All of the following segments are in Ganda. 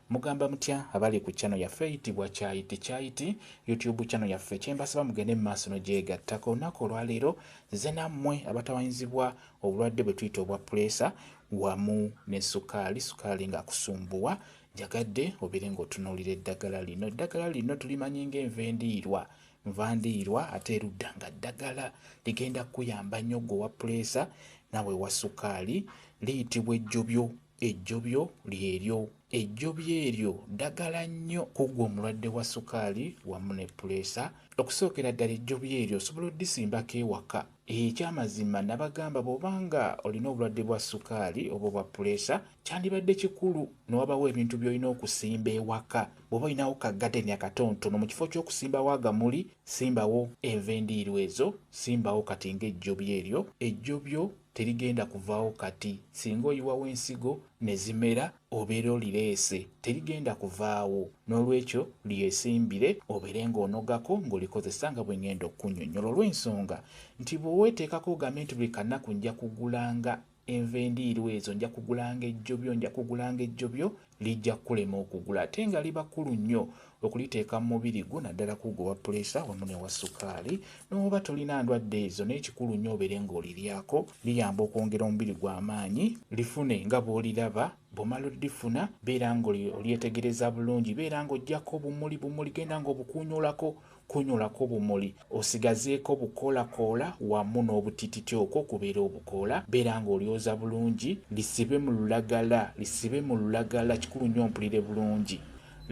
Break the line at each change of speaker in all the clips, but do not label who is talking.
Mugamba mutya abali ku channel yaffe eyitibwa Kyayiti Kyayiti YouTube channel yaffe kyembasaba mugende mu maaso n'ogyegattako olunaku olwaleero nzize nammwe abatawanyizibwa obulwadde bwe tuyita obwa puleesa wamu ne sukaali sukaali ng'akusumbuwa njagadde obeere ng'otunuulira eddagala lino eddagala lino tulimanyi ng'enva endiirwa nva ndiirwa ate erudda nga ddagala ligenda kukuyamba nnyo gwe owa puleesa nawe wa sukaali liyitibwa ejjobyo Ejjobyo lyeryo. Ejjobyo eryo ddagala nnyo ku ggwe omulwadde wa sukaali wamu ne puleesa. Okusookera ddala ejjobyo eryo osobola oddisimbako ewaka. Ekyamazima nabagamba bwoba nga olina obulwadde bwa sukaali oba obwa puleesa kyandibadde kikulu ne wabawo ebintu byolina okusimba ewaka. Bwoba olinawo ka gadeni akatontono mu kifo ky'okusimbawo agamuli, simbawo enva endiirwa ezo, simbawo kati nga ejjobyo eryo. Ejjobyo terigenda kuvaawo kati singa oyiwawo ensigo ne zimera obeera olireese terigenda kuvaawo n'olwekyo lyesimbire obeere ng'onogako ng'olikozesa nga bwe ngenda okukunnyonnyola olw'ensonga nti bwe weeteekako ogambe nti buli kanaku nja kugulanga enva endiirwa ezo nja kugulanga ejjobyo nja kugulanga ejjobyo lijja kukulema okugula ate nga liba kkulu nnyo okuliteeka mu mubiri gwo naddala kuugo wa puleesa wamu ne wa sukaali n'oba tolina ndwadde ezo n'ekikulu nnyo obeere ng'oliryako liyamba okwongera omubiri gwa amaanyi lifune nga bw'oliraba bw'omala oddifuna beera ng'olyetegereza bulungi beera ng'ojjako bumuli bumuli genda ng'obukuunyulako Kunyulako bumuli osigazeeko bukoolakoola wamu n'obutititi okwo okubeera obukoola beera nga olyoza bulungi, lisibe mu lulagala lisibe mu lulagala kikulu nnyo mpulire bulungi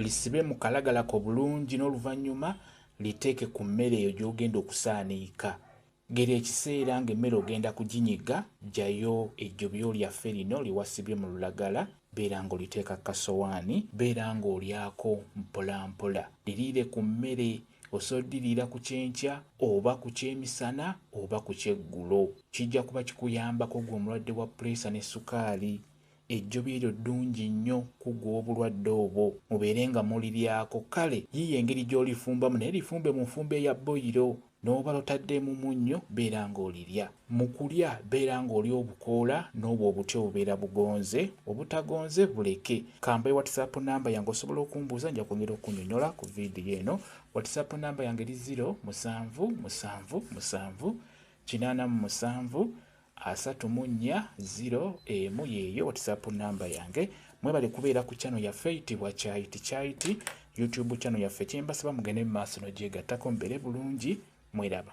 lisibe mu kalagala ko bulungi n'oluvannyuma liteeke ku mmere eyo gy'ogenda okusaaniika. Gera ekiseera ng'emmere ogenda kuginyiga, ggyayo ejjobyo lyaffe lino lye wasibye mu lulagala, beera ng'oliteeka ku kasowaani, beera ng'olyako mpolampola. Liriire ku mmere. Osobola oddiriira ku kyenkya oba ku kyemisana oba ku kyeggulo. Kijja kuba kikuyambako ggwe omulwadde wa puleesa ne ssukaali. Ejjobi eryo ddungi nnyo kuggwa obulwadde obwo, mubeere nga muliryako, kale yiiya engeri gy'olifumbamu naye lifumbe mu nfumba eya bboyiro, n'oba lotaddeemu munnyo beera nga olirya. Mu kulya beera nga olya obukoola n'obwo obuti obubeera bugonze, obutagonze buleke. Ka mbawe whatsapp namba yange osobola okumbuuza nja kwongera okukunyonyola ku vidiyo eno. Whatsapp namba yange eri ziro musanvu musanvu musanvu kinaana mu musanvu asatu mu nnya ziro emu yeeyo whatsapp namba yange mwebale kubeera ku channel yaffe eyitibwa kyayiti kyayiti youtube channel yaffe kyembasaba mugende mu maaso nogyegattako mbeere bulungi mweraba